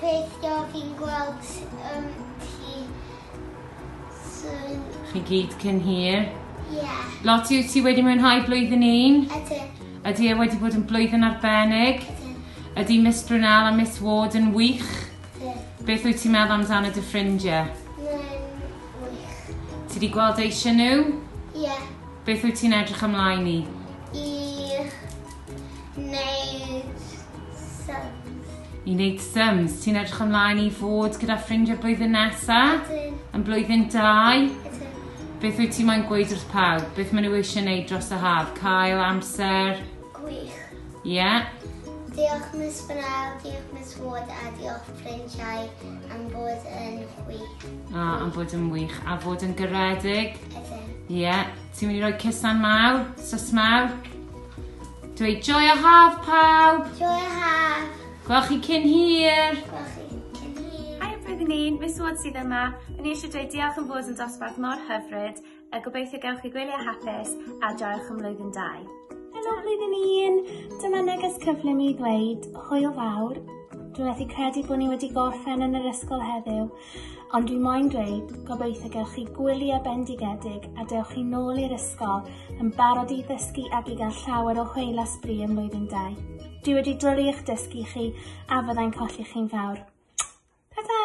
gobeithio fi'n gweld um, ti soon. Chi gyd cyn hir? Ie. Yeah. Lot yw ti wedi mwynhau blwyddyn un? Ydy. Ydy e wedi bod yn blwyddyn arbennig? Ydy. Ydy Miss Brunel a Miss Ward yn wych? Ydy. Beth wyt ti'n meddwl amdano dy ffrindiau? Mae'n wych. Ti wedi gweld eisiau nhw? Ie. Yeah. Beth wyt ti'n edrych ymlaen i? Wneud sums. I wneud sums. Ti'n edrych ymlaen i fod gyda ffrindiau blwyddyn nesa? Ydy. Yn blwyddyn dau? Ydy. Beth wyt ti mae'n gweud wrth pawb? Beth maen nhw eisiau wneud dros y haf? Cael amser? Gwych. Ie. Yeah. Diolch Miss Bernal, diolch Miss Ward a diolch ffrindiau am bod yn wych. A, am bod yn wych. A fod yn gyredig? Ydyn. Ie. Yeah. Ti'n mynd i roi cusan mawr, sys mawr. Dweud joio haf pawb! Joio haf! Gwel chi cyn hir! Gwel chi cyn hir! Hi everything un, Miss Ward sydd yma. Yn eisiau dweud diolch yn fod yn dosbarth mor hyfryd. A gobeithio gewch chi gwyliau hapus a joiwch yn mlwyddyn dau. Helo flwyddyn un! Dyma neges cyflym i ddweud hwyl fawr. Dwi'n methu credu bod ni wedi gorffen yn yr ysgol heddiw. Ond dwi moyn dweud, gobeithio gewch chi gwyliau bendigedig a dewch chi nôl i'r ysgol yn barod i ddysgu ac i gael llawer o hwyl a sbri ym mlwyddyn 2. Dwi wedi dwlu eich dysgu chi a fyddai'n colli chi'n fawr. Ta-da!